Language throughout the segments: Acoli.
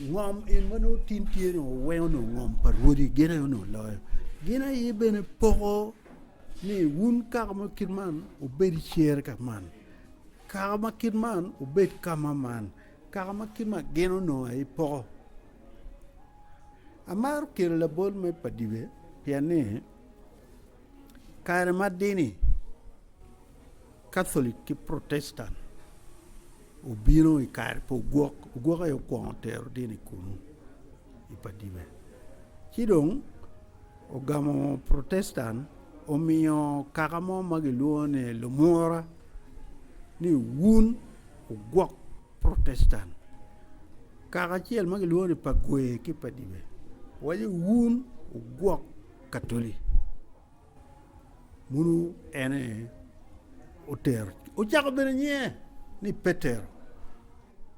Ngom en ma nongo tin tye ni owengo nongo ngom pa Rwodi gin aye onongo loyo. Gin aye bene poko ni wun kaka ma kit man obed i cer ka man, kaka ma kit man obed ka ma man, kaka ma kit man gin onongo aye poko. Amaro kelo labol me pa dibe pien ni Kare ma dini Katholik ki Protestan obino i kare pa ogwok, ogwok aye okwongo tero dini kunu i Padibe. Ci dong ogamo Protestan omiyo kaka mo ma gilwongo ni Lumura ni wun ogwok Protestan. Kaka acel ma gilwongo ni Pagwe ki Padibe waco ni wun ogwok. Katoli. Munu en aye otero, ocako bene nyinge ni Petero.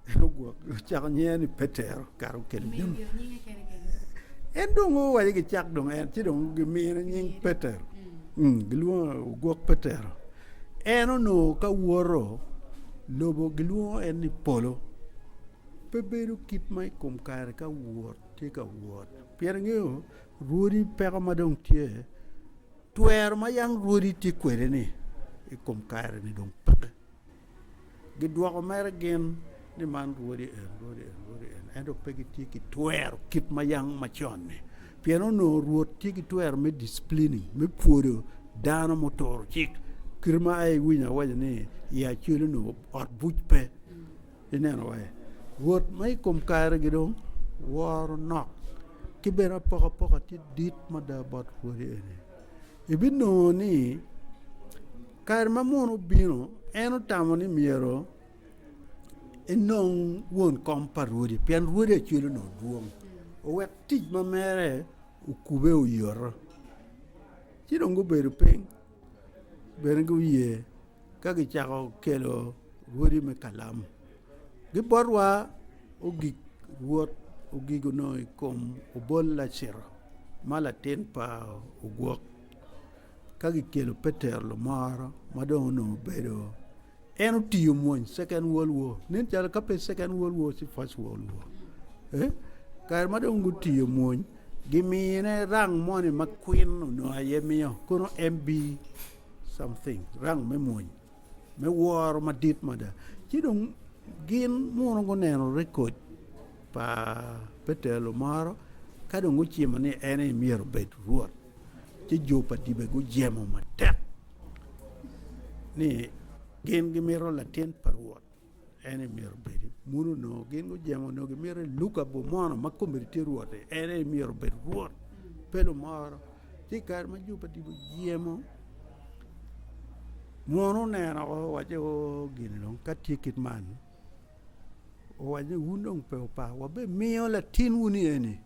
En ogwok, ocako nyinge ni Petero, kare okelo Omiyo jami. giro nyinge kene kene. En dong owaco gicak dong en, ci dong gimine nying Petero. Mm, gilwongo ogwok Petero. En onongo ka woto lobo gilwongo en ni polo. Pe bedo kit ma i kom kare ka wot, tye ka wot. Pien ingeyo Rwodi peko ma dong tye, Twero ma yam rwodi tye kwede-ni i kom kare-ni dong peke. Gidwoko mere gin ni man rwodi en, rwodi en, rwodi en, ento pe gitye ki twero kit ma yam macon-ni, pien onongo Rwot tye ki twero me disciplining, me pwodo dano muturo cik, kite ma aye iwinyo awaca ni i Acoli onongo ot buc pe. Ineno wa, rwot ma i kom kare-gi dong woro nok, ki bene apokapoka tye dit mada bot rwodi eni. Ibinongo ni kare ma muno obino, en otamo ni myero enong won kom pa rwodi, pien rwodi acwele onongo dwong, owek tic ma mere okube oyoto. Ci dong gubedo piny bene guye ka kicako kelo rwodi me kalam gibotwa ogik rwod ogik onongo i kom obol Lacito ma latin pa ogwok ka kikelo Petero Lumoro ma dong onongo obedo en otiyo mony second world war nen calo ka pe second world war ci first world war kare ma dong gutiyo mony gimine rang moni ma kwin onongo aye miyo kono MB something rango me mony me woro madit mada ci dong gin muno guneno rekod pa Petero moro ka dong gucimo ni en aye myero obed Rwot. Ci jo pa dibe gujemo matek ni gin gimito latin pa Rwot. En aye myero obedi. Mon onongo gin gujemo onongo gimito ni Luka obed mono ma komedi tye Rwot-ti. En aye myero obed Rwot, pe lumoro. Ci i kare ma Ju pa tipo jemo, mon oneno woko owaco ni oo gin-ni dong ka tye kit man, owaco ni wun dong pe wupa, wabimiyo latinwu ni eni.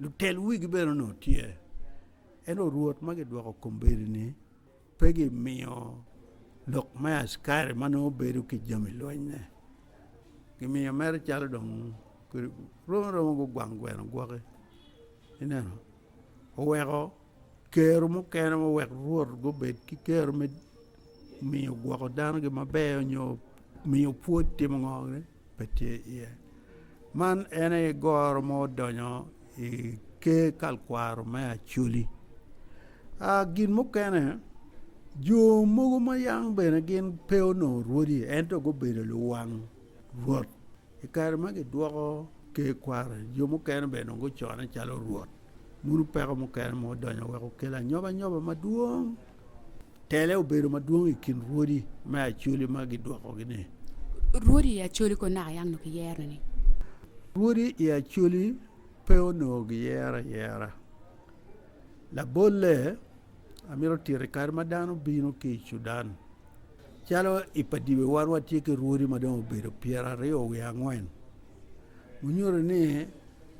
Lutel wigi bene onongo tye, ento rwot ma gidwoko kombeddi-ni pe gimiyo lok me askari ma nongo bedo ki jami lweny-nne. Gimiyo mere calo dong romo romo gugwang gweno gwoki, ineno, oweko Kero mukene me wek rwot gubed ki kero me miyo gwoko dano gin maber nyo miyo pwod timo ngo ni pe tye iye man en aye goro ma odonyo i ker tekwaro me Acholi gin mukene jo mogo ma yang bene gin pe onongo rwodi ento gubedo luwang rwot. I kare ma gidwoko ker kware, jo mukene bene onongo gucone calo rwot. Munu peko mukene ma odonyo wek okel anyobanyoba madwong. Tele obedo madwong i kin rwodi me Acholi ma gidwokogi-ni. Rwodi i Acholi kong naka yang nongo kiyeroni? Rwodi i Acholi pe onongo giyero ayera. Labolle, amito tito i kare ma dano bino ki i Cudan Calo i pa dyewe wan watye ki rwodi ma dong obedo pyeraryo wiye angwen ma nyuto ni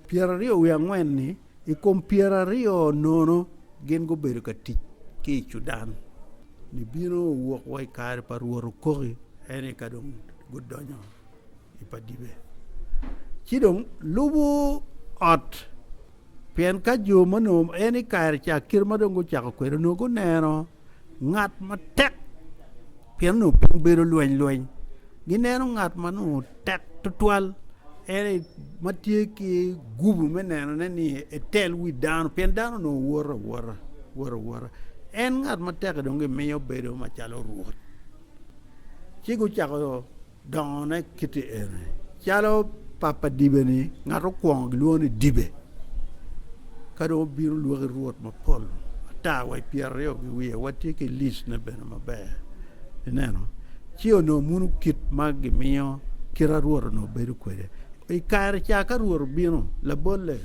pyeraryo wiye angwen ni i kom pyeraryo nono gin gubedo ka tic ki i Cudan gibino owok wa i kare pa rwot okoki ene ka dong gudonyo i pa dyewe ci dong lubo ot pien ka jo ma onongo en i kare ca kite ma dong gucako kwede onongo guneno ngat matek pien onongo piny bedo lweny lweny gineno ngat ma nongo tek tutwal en aye ma tye ki gubu me nenone ni etel wi dano pien dano onongo woto awota woto awota en ngat matek-ki dong gimiyo bedo macalo rwot ci gucako Dongone kite eni calo papa dibe ni ngat okwongo gilwongo ni dibe ka dong obino lwoki rwot mapol ata wa i pyeraryo ki wiye watye ki list ne bene maber ineno ci onongo munu kit ma gimiyo kite a rwot onongo bedo kwede i kare ca ka rwot obino labolle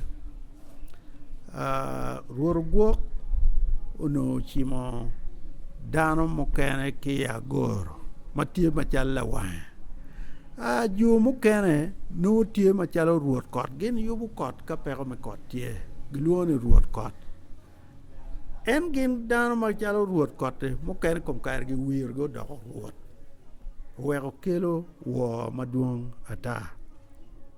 Rwot ogwok onongo ocimo dano mukene ki i agoro ma tye macalo lawange jo mukene nongo tye macalo rwod kot gin yubo kot ka peko me kot tye gilwongo ni rwod kot en gin dano macalo rwod koti mukene i kom kare giwirogi odoko rwot oweko kelo woo madwong ata.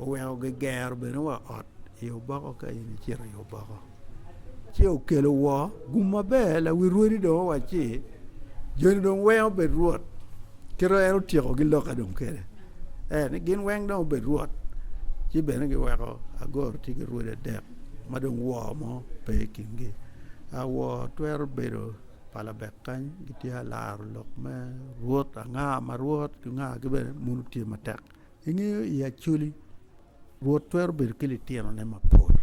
Oweko gigero bene wa ot i oboko ka in icito i oboko ci okelo wo gum maber lawi rwodi dong owac ci joni dong weng obed rwot kit en otyeko gi lokke dong kene ni gin weng dong obed rwot ci bene giweko Agoro tye ki rwodi adek ma dong wo mo pe i kingi wo twero bedo pa labek kany gitye ka laro lok me rwot anga ma rwot ki anga bene mono tye matek. I nge i Acholi, Rwot twero bedo ki litinone mapol.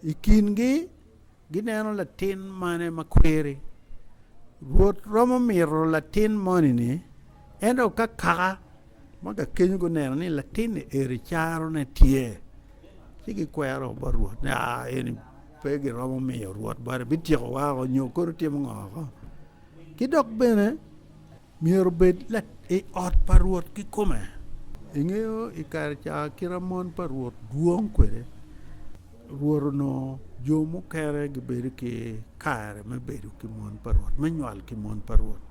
I kingi, gineno latin mane ma kweri. Rwot romo mito latin moni-ni, ento ka kaka ma gakenyo guneno ni latin-ni eri carone tye, ci gikwero bot Rwot ni, Aa, eni pe giromo miyo Rwot bati, bityeko wako nyo kadi timo ngo woko. Ki dok bene. Myero obed i ot pa Rwot kikome. Ingeyo i kare ca kite ma mon pa Rwot dwong kwede, Rwot onongo jo mukene gibedo ki kare me bedo ki mon pa Rwot, me nywal ki mon pa Rwot.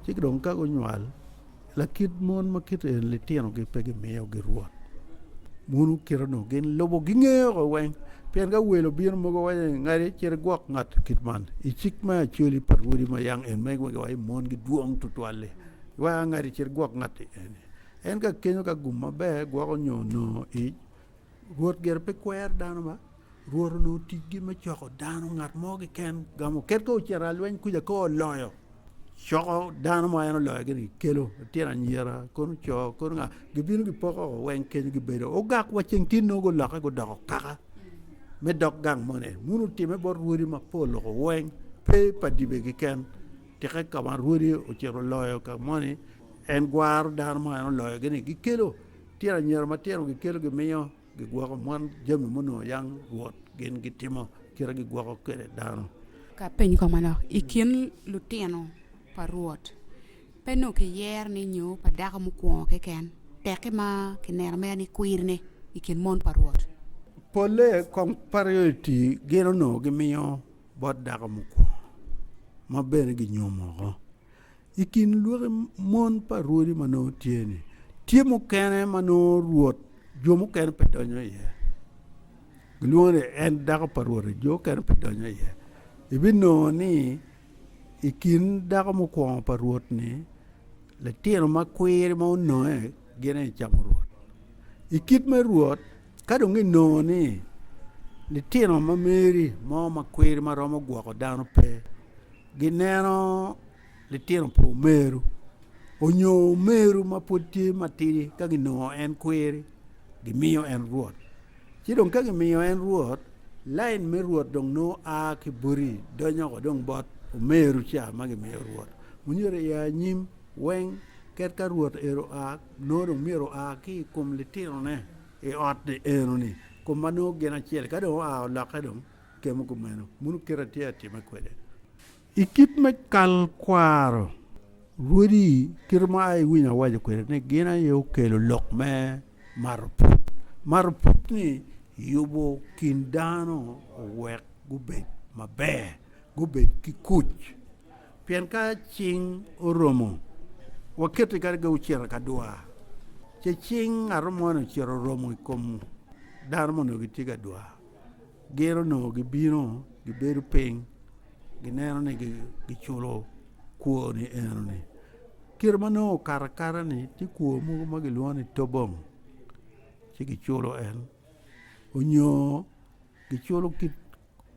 Ci dong ka gunywal, lakit mon ma kit eni litinogi pe gimiyogi Rwot muno, kite onongo gin lubo, gingeyo woko weng. Pien ka wel obino mogo waco ni, 'Ngadi cit igwok ngat kit man, i cik me Acholi pa Rwodi ma Yang En Megi Megi Wayi Mongi Dwong Tutwal-li, wek angadi cit igwok ngat eni. En ka kenyo ka gum maber gwoko nyo nongo ic, Rwot gire pe kwero dano ma Rwot onongo ticgi me coko dano ngat mo keken gamo ket ka ocito i alweny kuca ka oloyo. coko dano ma en oloyo gi ni kelo litino anyira kono co kono nga gibino gipoko o weng kenyo gibedo ogak wa ceng tye nongo guloke gudoko kaka me dog gang mo ni munu time bot rwodi mapol loko weng pe pa dibe gi ken tike kama rwodi ocito loyo ka mo ni en gwaro dano ma en oloyo gi ni gikelo litino anyira matino gikelo gimiyo Gigwoko mwan jami munongo yang Rwot gin gitimo kite gigwoko kwede dano. Ka peny kong manok i kin lutino pa Rwot, pe nongo kiyer ni nyo pa dako mukwongo keken, tekki ma kineno mere ni kwirne i kin mon pa Rwot. Polle kong pariyo i tii gin onongo gimiyo bot dako mukwongo ma bene ginyomo oko. I kin lwaki mon pa rwodi ma nongo tye-ni, tye mukene ma nongo Rwot jo mukene pe donyo iye. Gilwongo ni en dako pa Rwot-ti, jo mukene pe donyo iye. Ibinongo ni i kin dako mukwongo pa Rwot-ni, litino ma kwiri ma ononge gin aye camo Rwot. I kit me Rwot, ka dong inongo ni litino ma meri mo ma kwiri ma romo gwoko dano pe, Gineno litino pa omeru onyo omeru ma pud tye matidi ka ginongo en kwiri, gimiyo en rwot. Ci dong ka gimiyo en rwot, lain me rwot dong nongo a ki boti donyo wa dong bot omeru ca ma gimiyo rwot. Myero iya anyim weng ket ka rwot ero oa, nongo dong myero oa ki i kom litinone i ot-ti eno-ni, koma nongo gin acel. Ka dong oa olokke dong. temo kumeno, mono kite atye atime kwede. I kit me kal kwaro, rwodi kite ma aye iwinyo awaco kwede ni gin aye okelo lok me mato pwod. Mato pwod ni yubo kin dano owek gubed maber, gubed ki kuc. Pien ka cing oromo, waketi kadi ka wucito i kadwa, ce cing ngat mo ni ocito oromo i kom dano ma onongo gitye ka dwa, Gin onongo gibino, gibedo piny, gineno ni giculo kwoni enoni. Kite ma nongo okato akata-ni, tye kwor mogo ma kilwongo ni tobong ci kiculo en onyo giculo kit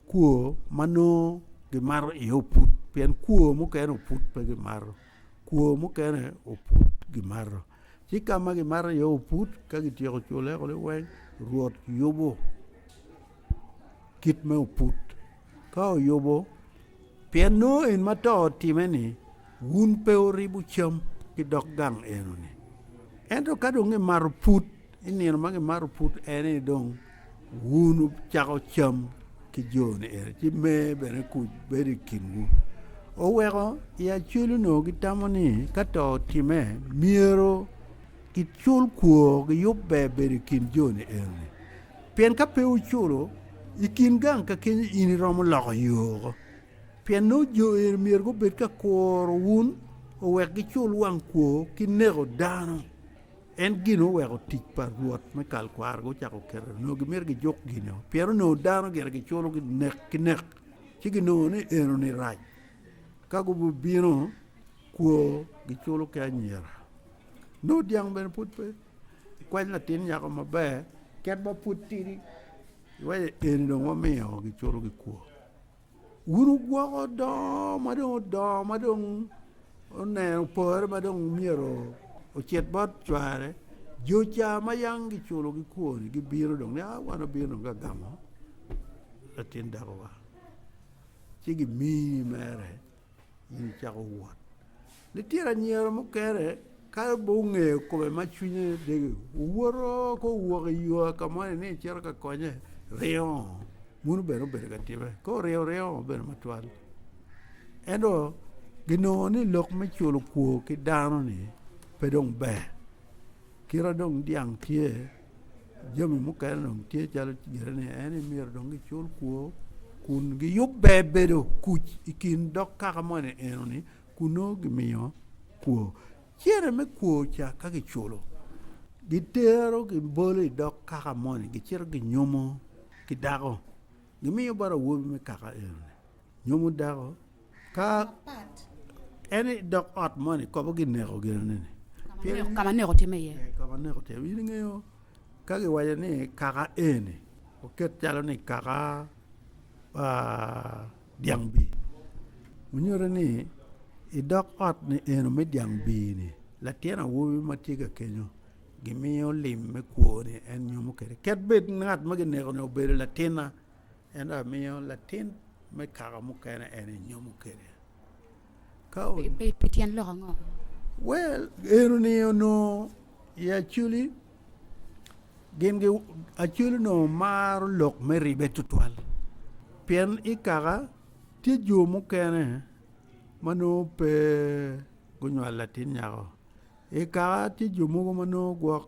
kwor ma nongo gimato iye oput pien kwor mukene oput pe gimato, kwor mukene oput gimato. Ci ka ma gimato iye oput, ka gityeko cule kodi weng, Rwot yubo kit me oput. Ka oyubo, pien nongo en ma to otimme ni, wun pe wuribo cam ki dog gang eno-ni. Ento ka dong gimato put, i nino ma gimato put, en aye dong Wun wucako cam ki jo-ni eni, ci mee bene kuc bedo i kinwu. Oweko i Acoli onongo gitamo ni ka to otimme, myero gicul kwor giyub ber bedo i kin jo-ni eni. Pien ka pe wuculo, i kin gang ka kenyo in iromo loko yo oko. Pien nongo jo eni myero gubed ka kuro wun owek gicul wang kwor ki neko dano. En gin oweko tic pa Rwot me kal kwaro gucako kero nongo gimito gijuk gino pien onongo dano gire giculo gi nek ki nek ci ginongo ni eno ni rac ka gubibino kwo giculo ki anyira nongo dyang bene pud pe ikwany latin nyako maber ket ma pud tidi iwaco eni dong wamiyo giculo gi kwo. Wun wugwoko dongo ma dong odongo ma dong oneno opore ma dong myero ocit bot cware, jo ca ma yang giculo ki kwoni gibino dong ni aa wan wabino dong ka gamo latin dakowa ci gimiyi mere. in icako wot. Litino anyira mukene kato bot ongeyo kome ma cwinye dege owoto ko owok i yo ka moni ni ecito ka konye ringo munu bene obedo ka timme ka oringo ringo obedo matwal ento ginongo ni lok me culo kwor ki dano ni pe dong ber kit ma dong dyang tye jami mukene dong tye calo gire ni en aye myero dong gicul kwor kun giyub ber bedo kuc i kin dog kaka moni eno ni kun nongo gimiyo kwor cene me kwor ca ka kiculo gitero gibolo i dog kaka moni gicito ginyomo ki dako gimiyo bot awobi me kaka eno ni. Nyomo dako ka en dok ot moni kobo ki neko gino ni ka ma neko timme iye ka ma neko timme iye in ingeyo ka giwaco ni kaka eni oket calo ni kaka dyang bim nyuto ni i dog ot ni eno me dyang bim ni latin awobi ma tye ka kenyo gimiyo lim me kwo ni en nyomo kwede ket bed ngat ma kineko ni obedo latinna. Ento amiyo latin me kaka mukene en enyomo kwede. Ka o... Pi, pi, pi tyen lok ango? Well, eno-ni onongo i Acoli, gin gi, Acoli onongo maro lok me ribe tutwal. Pien i kaka tye jo mukene ma nongo pe gunywalo latin nyako. I kaka tye jo mogo ma nongo gwok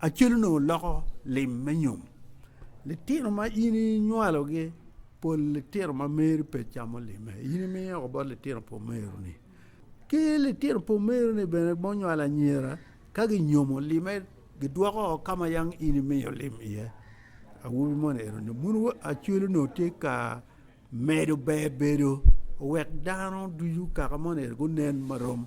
Acel onongo loko lim me nyom. Litino ma in inywalogi pol litino ma meri pe camo limme, in imiyo woko bot litino pa omeroni. Ki litino pa omeroni bene ma onywalo anyira ka ginyomo limme gidwoko woko ka ma yang in imiyo lim iye. Awobi moni ero ni bun Acel onongo tye ka medo ber bedo owek dano ducu kaka moni ero gunen marom.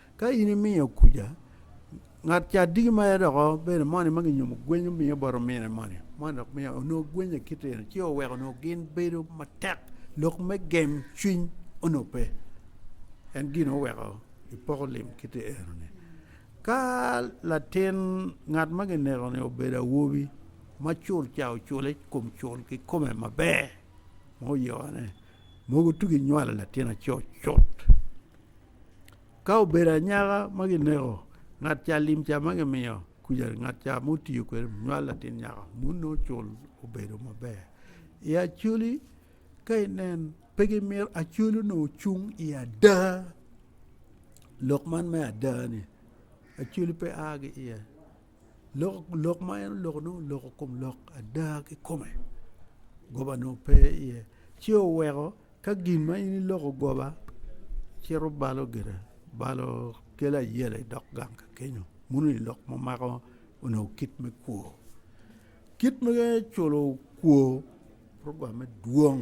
Ka in imiyo kuca, ngat ca adiki ma en dok bedo moni ma ginyumo gweny omiyo bot omine moni, moni dok miyo onongo gweny i kite eno ci oweko onongo gin bedo matek lok me gem cwiny onongo pe. En gin oweko ipoko lim kite eno-ni. Ka latin ngat ma kineko-ni obedo awobi ma cul ca ocule i kom cul kikome maber ma oyone, mogo tugi nywalo latin aco cut. Ka obedo anyaka ma kineko ngat ca lim ca ma kimiyo kuca ngat ca ma otiyo kwede nywal latin nyaka munu nongo ocul obedo maber. I Acholi ka inen pe gimito Acholi onongo cung i ada lok man me ada-ni Acholi pe a ki iye. Lok ma en oloko nongo oloko kom lok ada kikome goba nongo pe iye ci oweko ka gin ma in iloko goba cito balo gire balo kelo ayela idog gang ka kenyo muno i lok ma mako onongo kit me kwo kit me culo kwo program me dwong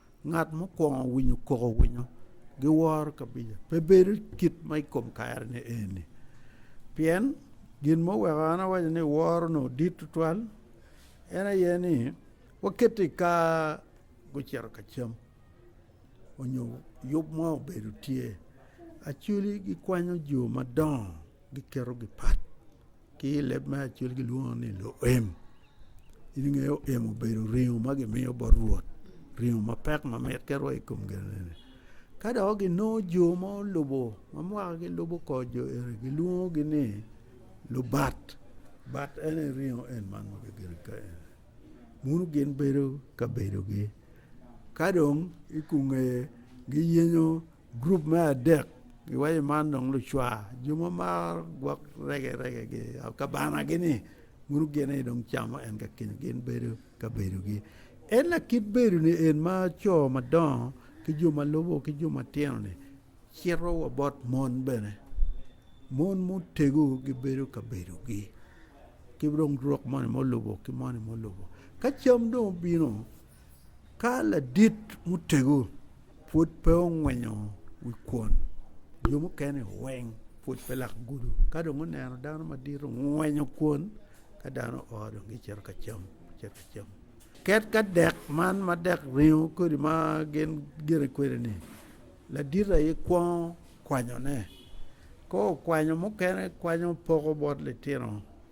Ngat mukwongo winyo koko winyo giworo kabica pe bedo kit ma i kom kare-ni eni. Pien gin ma oweko an awaco ni woro nongo dit tutwal en aye ni wakette i ka gucito ka cam onyo yub mo obedo tye, acwali gikwanyo jo madongo giketo gipat ki i leb me acel gilwongo ni luem in ingeyo luem obedo ringo ma gimiyo bot rwot ringo mapek ma mitte rwai i kom gin eni ka dok ginongo jo ma olubo ma mwaka gilubo kor jo eni gilwongogi ni lubat bat en aye ringo en man ma kiketo ka eni muno gin bedo kabedogi ka dong i kunge giyenyo Gurup me adek i waci man dong lucwa, jo ma maro gwok regeregegi. Kabanagi ni munu gin aye dong camo en ka kenyo gin bedo ka bedogi. Ena kit bedoni en ma co madongo ki jo ma lubo ki jo matino-ni cito wa bot mon bene. Mon mutegu gibedo ka bedogi ki dong rok moni mulubo ki moni mulubo. Ka cam dong obino Ka ladit mutego pwod pe ongwenyo wi kwon, jo mukene weng pwod pe lak gudo. Ka dong oneno dano madit ongwenyo kwon, ka dano oo dong gicito ka cam, gicito ka cam. Ket ka dek man ma dek ringo kodi ma gin gire kwede-ni, ladit aye kwongo kwanyone. Ka okwanyo mukene, kwanyo poko bot litino.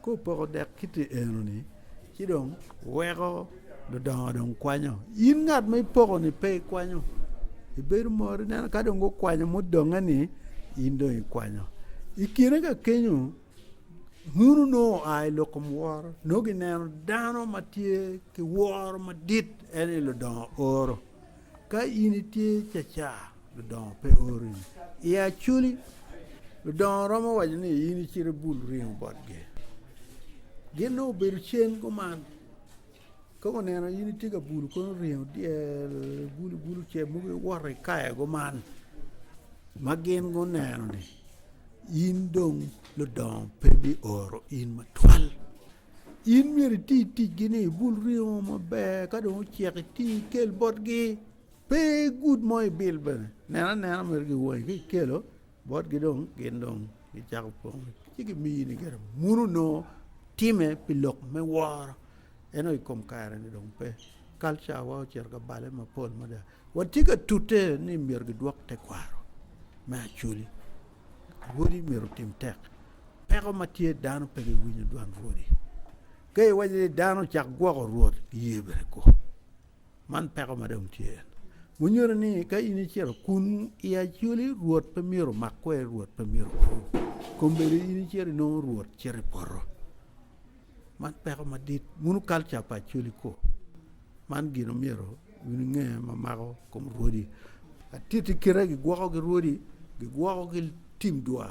Ka opoko dek kite enoni, ci dong weko ludongo dong kwanyo. In ngat ma ipoko-ni pe ikwanyo, ibedo mot ineno ka dong gukwanyo mudongnge-ni in dong ikwanyo. I kine ka kenyo, munu nongo oa i lok kom woro, nongo gineno dano ma tye ki woro madit, ene ni ludongo oro. Ka in itye caca, ludongo pe ori i acoli. Ludongo romo waco ni in icit ibul ringo botgi. Gin nongo obedo cen kuman, ka guneno in itye ka bulo kono ringo dyel, ibulu ibulu ce mogo iwoto ikayo kuman ma gin guneno-ni, in dong ludongo pe bioro in matwal. In myero iti ticgi ni ibul ringo maber ka dong ocek iti ikel botgi pe gud mo ibil bene nen anena myero giwony ka ikelo botgi dong gin dong gicako pwonye ci gimiyi ni gire munu onongo time pi lok me woro ento i kom kare-ni dong pe kalcawa ocito ka balle mapol mada watye ka tute ni myero gidwok tekwaro me acwali. Rwodi myero otim tek. Peko ma tye dano pe giwinyo dwan Rwodi. Ka iwaco ni dano ocak gwoko Rwot, giye bene kwo. Man peko ma dong tye en. Munyuto ni ka in icito kun i acoli Rwot pe myero omak kwer, Rwot pe myero opwony. Kombeddi in icito inongo Rwot cito i poto. Man peko madit bino kalca pa Acholi kor man gin ma myero wun inge ma mako kom rwodi atiti kite gigwoko ki rwodi gigwoko ki tim dwa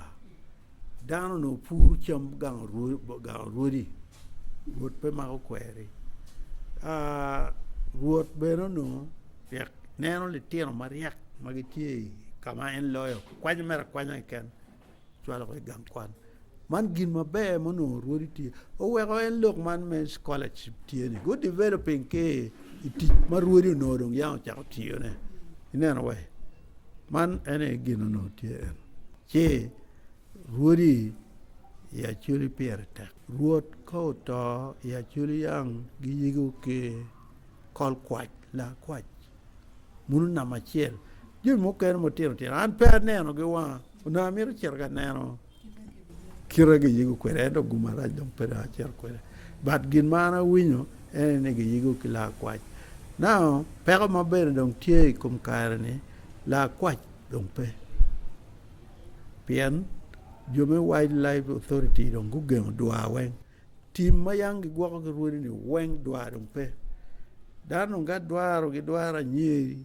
dano onongo puro cam gango rwodi rwot pe mako kweri rwot bene onongo ryek neno litino maryek ma gitye ka ma en loyo kwanyo mere akwanya keken cwalo ko i gang kwan. Man gin maber ma onongo rwodi tye. Oweko en lok man me scholarship tye ni good developing ki i tic ma rwodi onongo dong yang ocako tiyone. Ineno wai? Man en aye gin onongo tye en. Ci rwodi i acoli pire tek. Rwot ka oto i acoli yang giyiko ki kol kwac, laa kwac. muno namba acel jami mukene matino tino an pe aneno gi wanga onongo amito cito ka neno kite giyiko kwede ento gum marac dong pe dong acito kwede but gin ma an awinyo ene ni giyiko ki laa kwac now peko ma bene dong tye i kom kare ni laa kwac dong pe pien jo me wild life authority dong gugengo dwaa weng Tim ma yam gigwoko ki rwodini weng dwar dong pe. Dano dong ka dwaro gidwaro anyeri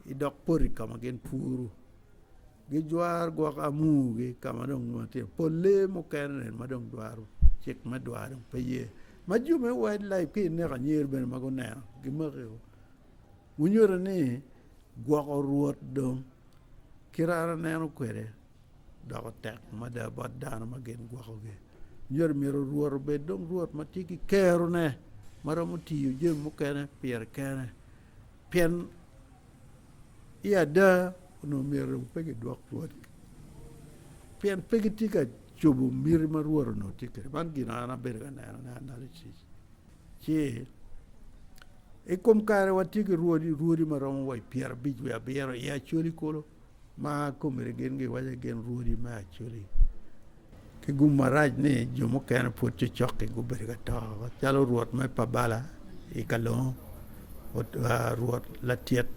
i dog poti ka ma gin puru. Gijwaro gwoko amugi ka ma dong nongo tye pol lee mukene ma dong dwaro cik me dwar dong pe ye. Ma jo me wild life ka ineko anyeri bene ma guneno gimakio wunyuto ni gwoko rwot dong kirara neno kwede. Doko tek mada bot dano ma gin gwokogi. Myero myero Rwot obed dong Rwot ma tye ki kerone ma romo tiyo jami mukene pire kene. Pien i ada onongo myero pe gidwok Rwot pien pe gitye ka cobo miti ma Rwot onongo tye kwede. Man gin ma an abedo ka nenone analysis. Ci i kom kare watye ki rwodi, rwodi ma romo wa i pyerabic wiye abiro i Acholi kulu. ma komine gin giwaco ni gin rwodi me Acuri. Ki gum marac ni jo mukene pud cocok-ki gubedo ka to calo rwot me Pabala i Kalongo, rwot Latyet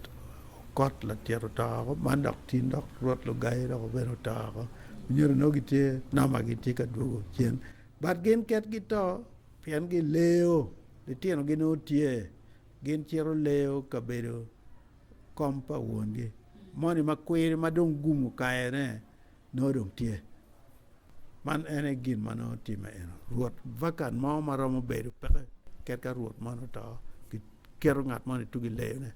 Okot Latyet oto woko man dok tin dok rwot Lugayi dok bene oto woko. Onyo onongo gitye namba gitye ka dwogo cen but gin ket gito pien gileyo litinogi nongo tye gin cito leyo kabedo. kom pa wongi moni ma kwiri ma dong gumo kayane nongo dong tye. Man en aye gin ma nongo timme eno. Rwot vakan mo ma romo bedo peke ket ka rwot moni oto, kiketo ngat moni i tugi leyone.